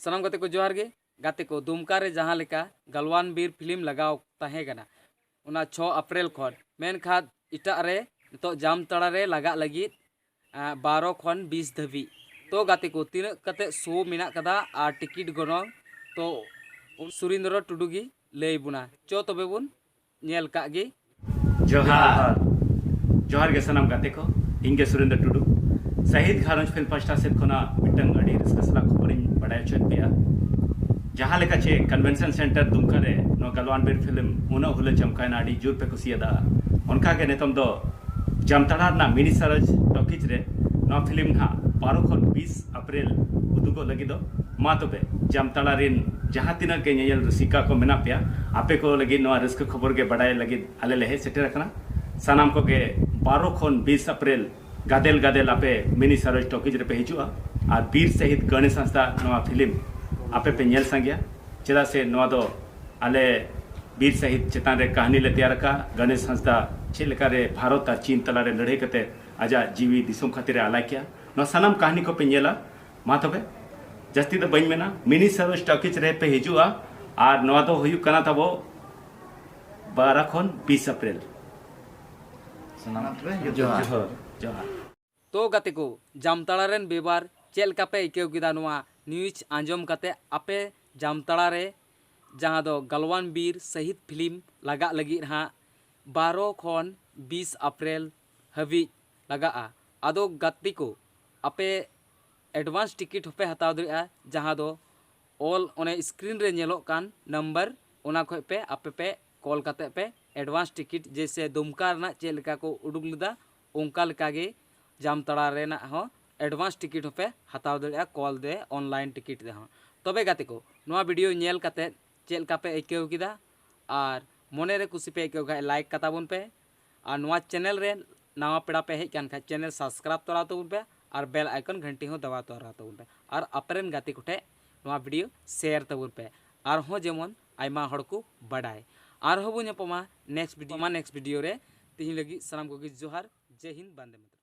ᱥᱟᱱᱟᱢ ᱜᱟᱛᱮ ᱠᱚ ᱡᱚᱦᱟᱨ ᱜᱮ ᱜᱟᱛᱮ ᱠᱚ ᱫᱩᱢᱠᱟ ᱨᱮ ᱡᱟᱦᱟᱸ ᱞᱮᱠᱟ ᱜᱟᱞᱣᱟᱱ ᱵᱤᱨ ᱯᱷᱤᱞᱢ ᱞᱟᱜᱟᱣ ᱛᱟᱦᱮᱸ ᱠᱟᱱᱟ ᱚᱱᱟ ᱪᱷᱚ ᱟᱯᱨᱮᱞ ᱠᱷᱚᱱ ᱢᱮᱱᱠᱷᱟᱱ ᱮᱴᱟᱜ ᱨᱮ ᱱᱤᱛᱚᱜ ᱡᱟᱢᱛᱟᱲᱟ ᱨᱮ ᱞᱟᱜᱟᱜ ᱞᱟᱹᱜᱤᱫ ᱵᱟᱨᱚ ᱠᱷᱚᱱ ᱵᱤᱥ ᱫᱷᱟᱹᱵᱤᱡ ᱛᱚ ᱜᱟᱛᱮ ᱠᱚ ᱛᱤᱱᱟᱹᱜ ᱠᱟᱛᱮ ᱥᱳ ᱢᱮᱱᱟᱜ ᱠᱟᱫᱟ ᱟᱨ ᱴᱤᱠᱤᱴ ᱜᱚᱱᱚᱝ ᱛᱚ ᱥᱩᱨᱤᱱᱫᱨᱚ ᱴᱩᱰᱩ ᱜᱮ ᱞᱟᱹᱭ ᱵᱚᱱᱟ ᱪᱚ ᱛᱚᱵᱮ ᱵᱚᱱ ᱧᱮᱞ ᱠᱟᱜ ᱜᱮ ᱡᱚᱦᱟᱨ ᱡᱚᱦᱟᱨ ᱜᱮ ᱥᱟᱱᱟᱢ ᱜᱟᱛᱮ ᱠᱚ ᱤᱧ ᱜᱮ ᱥᱩᱨᱮᱱᱫᱨ ᱴᱩᱰᱩ ᱥᱟᱦᱤᱫ ᱜᱷᱟᱨᱚᱸᱡᱽ ᱯᱷᱤᱞᱢ ᱯᱟᱥᱴᱟ ᱥᱮᱫ ᱠᱷᱚᱱᱟᱜ ᱢᱤᱫᱴᱟᱝ ᱟᱹᱰᱤ ᱨᱟᱹᱥᱠᱟᱹ ᱥᱟᱞᱟᱜ ᱠᱷᱚᱵᱚᱨᱤᱧ ᱵᱟᱰᱟᱭ ᱦᱚᱪᱚᱭᱮᱫ ᱯᱮᱭᱟ ᱡᱟᱦᱟᱸ ᱞᱮᱠᱟ ᱪᱮ ᱠᱚᱱᱵᱷᱮᱱᱥᱚᱱ ᱥᱮᱱᱴᱟᱨ ᱫᱩᱢᱠᱟ ᱨᱮ ᱱᱚᱣᱟ ᱜᱟᱞᱣᱟᱱ ᱵᱤᱨ ᱯᱷᱤᱞᱢ ᱩᱱᱟᱹᱜ ᱦᱩᱞᱟᱹ ᱪᱚᱢᱠᱟᱭᱱᱟ ᱟᱹᱰᱤ ᱡᱳᱨ ᱯᱮ ᱠᱩᱥᱤᱭᱟᱫᱟ ᱚᱱᱠᱟ ᱜᱮ ᱱᱤᱛᱚᱝ ᱫᱚ ᱡᱟᱢᱛᱟᱲᱟ ᱨᱮᱱᱟᱜ ᱢᱤᱱᱤ ᱥᱟᱨᱚᱡᱽ ᱴᱚᱠᱤᱡᱽ ᱨᱮ ᱱᱚᱣᱟ ᱯᱷᱤᱞᱢ ᱱᱟᱦᱟᱜ ᱵᱟᱨᱚ ᱠᱷᱚᱱ ᱵᱤᱥ ᱟᱯᱨᱮᱞ ᱩᱫᱩᱜᱚᱜ ᱞᱟᱹᱜᱤᱫᱚᱜ᱾ ᱢᱟ ᱛᱚᱵᱮ ᱡᱟᱢᱛᱟᱲᱟ ᱨᱤᱱ ᱡᱟᱦᱟᱸ ᱛᱤᱱᱟᱹᱜ ᱜᱮ ᱧᱮᱧᱮᱞ ᱨᱩᱥᱤᱠᱟ ᱠᱚ ᱢᱮᱱᱟᱜ ᱯᱮᱭᱟ, ᱟᱯᱮ ᱠᱚ ᱞᱟᱹᱜᱤᱫ ᱱᱚᱣᱟ ᱨᱟᱹᱥᱠᱟᱹ ᱠᱷᱚᱵᱚᱨ ᱜᱮ ᱵᱟᱰᱟᱭ ᱞᱟᱹᱜᱤᱫ ᱟᱞᱮ ᱞᱮ ᱦᱮᱡ ᱥᱮᱴᱮᱨ ᱟᱠᱟᱱᱟ᱾ ᱥᱟᱱᱟᱢ ᱠᱚ ᱜᱮ ᱵᱟᱨᱚ ᱠᱷᱚᱱ ᱵᱤᱥ ᱟᱯᱨᱮᱞ ᱜᱟᱫᱮᱞ ᱜᱟᱫᱮᱞ ᱟᱯᱮ ᱢᱤᱱᱤ ᱥᱟᱨᱚᱡᱽ ᱴᱚᱠᱤᱡᱽ ᱨᱮ ᱯᱮ ᱦᱤᱡᱩᱜᱼᱟ ᱟᱨ ᱵᱤᱨ ᱥᱟᱹᱦᱤᱫᱽ ᱜᱟᱹᱬᱮᱥ ᱦᱟᱸᱥᱫᱟᱜ ᱟᱜ ᱱᱚᱣᱟ ᱯᱷᱤᱞᱢ ᱟᱯᱮ ᱯᱮ ᱧᱮᱞ ᱥᱟᱸᱜᱮᱭᱟ᱾ ᱪᱮᱫᱟᱜ ᱥᱮ ᱱᱚᱣᱟ ᱫᱚ ᱟᱞᱮ ᱵᱤᱨ ᱥᱟᱹᱦᱤᱫᱽ ᱪᱮᱛᱟᱱ ᱨᱮ ᱠᱟᱹᱦᱱᱤ ᱞᱮ ᱛᱮᱭᱟᱨ ᱟᱠᱟᱫᱼᱟ᱾ ᱜᱟᱹᱬᱮᱥ ᱦᱟᱸᱥᱫᱟᱜ ᱪᱮᱫ ᱞᱮᱠᱟ ᱨᱮ ᱵᱷᱟᱨᱚᱛ ᱟᱨ ᱪᱤᱱ ᱛᱟᱞᱟ ᱨᱮ ᱞᱟᱹᱲᱦᱟᱹᱭ ᱠᱟᱛᱮ ᱟᱡᱟᱜ ᱡᱤᱣᱤ ᱫᱤᱥᱚᱢ ᱠᱷᱟᱹᱛᱤᱨ ᱮ ᱟᱞᱟᱭ ᱠᱮᱫᱼᱟ ᱱᱚᱣᱟ ᱥᱟᱱᱟᱢ ᱠᱟᱹᱦᱱᱤ ᱠᱚᱯᱮ ᱧᱮᱞᱟ ᱢᱟ ᱛᱚᱵᱮ ᱡᱟᱹᱥᱛᱤ ᱫᱚ ᱵᱟᱹᱧ ᱢᱮᱱᱟ ᱢᱤᱱᱤ ᱥᱟᱨᱚ ᱥᱴᱚᱠᱤᱡᱽ ᱨᱮ ᱯᱮ ᱦᱤᱡᱩᱜᱼᱟ ᱟᱨ ᱱᱚᱣᱟ ᱫᱚ ᱦᱩᱭᱩᱜ ᱠᱟᱱᱟ ᱛᱟᱵᱚ ᱵᱟᱨᱟ ᱠᱷᱚᱱ ᱵᱤᱥ ᱮᱯᱨᱤᱞ ᱡᱚᱦᱟᱨ ᱡᱚᱦᱟᱨ ᱛᱚ ᱜᱟᱛᱮ ᱠᱚ ᱡᱟᱢᱛᱟᱲᱟ ᱨᱮᱱ ᱵᱮᱵᱟᱨ ᱪᱮᱫ ᱞᱮᱠᱟ ᱯᱮ ᱟᱹᱭᱠᱟᱹᱣ ᱠᱮᱫᱟ ᱱᱚᱣᱟ ᱱᱤᱭᱩᱡᱽ ᱟᱸᱡᱚᱢ ᱠᱟᱛᱮ ᱟᱯᱮ ᱡᱟᱢᱛᱟᱲᱟ ᱨᱮ ᱡᱟᱦᱟᱸ ᱫᱚ ᱜᱟᱞᱣᱟᱱ ᱵᱤᱨ ᱥᱟᱹᱦᱤᱫ ᱯᱷᱤᱞᱢ ᱞᱟᱜᱟᱜ ᱞᱟᱹᱜᱤᱫ ᱦᱟᱸᱜ ᱵᱟᱨᱚ ᱠᱷᱚᱱ ᱵᱤᱥ ᱮᱯᱨᱤᱞ ᱦᱟᱹᱵᱤᱡ ᱞᱟᱜᱟᱜᱼᱟ᱾ ᱟᱫᱚ ᱜᱟᱛᱮ ᱠᱚ ᱟᱯᱮ ᱮᱰᱵᱷᱟᱱᱥ ᱴᱤᱠᱤᱴ ᱦᱚᱸᱯᱮ ᱦᱟᱛᱟᱣ ᱫᱟᱲᱮᱭᱟᱜᱼᱟ ᱡᱟᱦᱟᱸ ᱫᱚ ᱚᱞ ᱚᱱᱮ ᱥᱠᱨᱤᱱ ᱨᱮ ᱧᱮᱞᱚᱜ ᱠᱟᱱ ᱱᱟᱢᱵᱟᱨ ᱚᱱᱟ ᱠᱷᱚᱡ ᱯᱮ ᱟᱯᱮ ᱯᱮ ᱠᱚᱞ ᱠᱟᱛᱮ ᱯᱮ ᱮᱰᱵᱷᱟᱱᱥ ᱴᱤᱠᱤᱴ ᱡᱮᱭᱥᱮ ᱫᱩᱢᱠᱟ ᱨᱮᱱᱟᱜ ᱪᱮᱫ ᱞᱮᱠᱟ ᱠᱚ ᱩᱰᱩᱠ ᱞᱮᱫᱟ ᱚᱱᱠᱟ ᱞᱮᱠᱟ ᱜᱮ ᱡᱟᱢᱛᱟᱲᱟ ᱨᱮᱱᱟᱜ ᱦᱚᱸ ᱮᱰᱵᱷᱟᱱᱥ ᱴᱤᱠᱤᱴ ᱦᱚᱸᱯᱮ ᱦᱟᱛᱟᱣ ᱫᱟᱲᱮᱭᱟᱜᱼᱟ ᱠᱚᱞ ᱛᱮ ᱚᱱᱞᱟᱭᱤᱱ ᱴᱤᱠᱤᱴ ᱛᱮ ᱦᱚᱸ᱾ ᱛᱚᱵᱮ ᱜᱟᱛᱮ ᱠᱚ ᱱᱚᱣᱟ ᱵᱷᱤᱰᱤᱭᱳ ᱧᱮᱞ ᱠᱟᱛᱮ ᱪᱮᱫ ᱞᱮᱠᱟ ᱯᱮ ᱟᱹᱭᱠᱟᱹᱣ ᱠᱮᱫᱟ ᱟᱨ ᱢᱚᱱᱮ ᱨᱮ ᱠᱩᱥᱤ ᱯᱮ ᱟᱹᱭᱠᱟᱹᱣ ᱠᱷᱟᱡ ᱞᱟᱭᱤᱠ ᱠᱟᱛᱟ ᱵᱚᱱ ᱯᱮ᱾ ᱟᱨ ᱱᱚᱣᱟ ᱪᱮᱱᱮᱞ ᱨᱮ ᱱᱟᱣᱟ ᱯᱮᱲᱟ ᱯᱮ ᱦᱮᱡ ᱠᱟᱱ ᱠᱷᱟᱱ ᱪᱮᱱᱮᱞ ᱥᱟᱵᱥᱠᱨᱟᱭᱤᱵ ᱛᱚᱨᱟ ᱛᱟᱵᱚᱱ ᱯᱮ ᱟᱨ ᱵᱮᱞ ᱟᱭᱠᱚᱱ ᱜᱷᱟᱱᱴᱤ ᱦᱚᱸ ᱫᱟᱵᱟᱣ ᱛᱚᱨᱟ ᱛᱟᱵᱚᱱ ᱯᱮ ᱟᱨ ᱟᱯᱮᱨᱮᱱ ᱜᱟᱛᱮ ᱠᱚᱴᱷᱮ ᱱᱚᱣᱟ ᱵᱷᱤᱰᱤᱭᱳ ᱥᱮᱭᱟᱨ ᱛᱟᱵᱚᱱ ᱯᱮ ᱟᱨᱦᱚᱸ ᱡᱮᱢᱚᱱ ᱟᱭᱢᱟ ᱦᱚᱲ ᱠᱚ ᱵᱟᱰᱟᱭ ᱟᱨᱦᱚᱸ ᱵᱚᱱ ᱧᱟᱯᱟᱢᱟ ᱱᱮᱠᱥᱴ ᱵᱷᱤᱰᱤᱭᱳ ᱢᱟ ᱱᱮᱠᱥᱴ ᱵᱷᱤᱰᱤᱭᱳ ᱨᱮ ᱛᱤᱦᱤᱧ ᱞᱟᱹᱜᱤᱫ ᱥᱟᱱᱟᱢ ᱠᱚᱜᱮ ᱡᱚᱦᱟᱨ ᱡᱮ ᱦᱤᱱᱫ ᱵᱟᱱᱫᱮ ᱢᱟᱛᱨᱚᱢ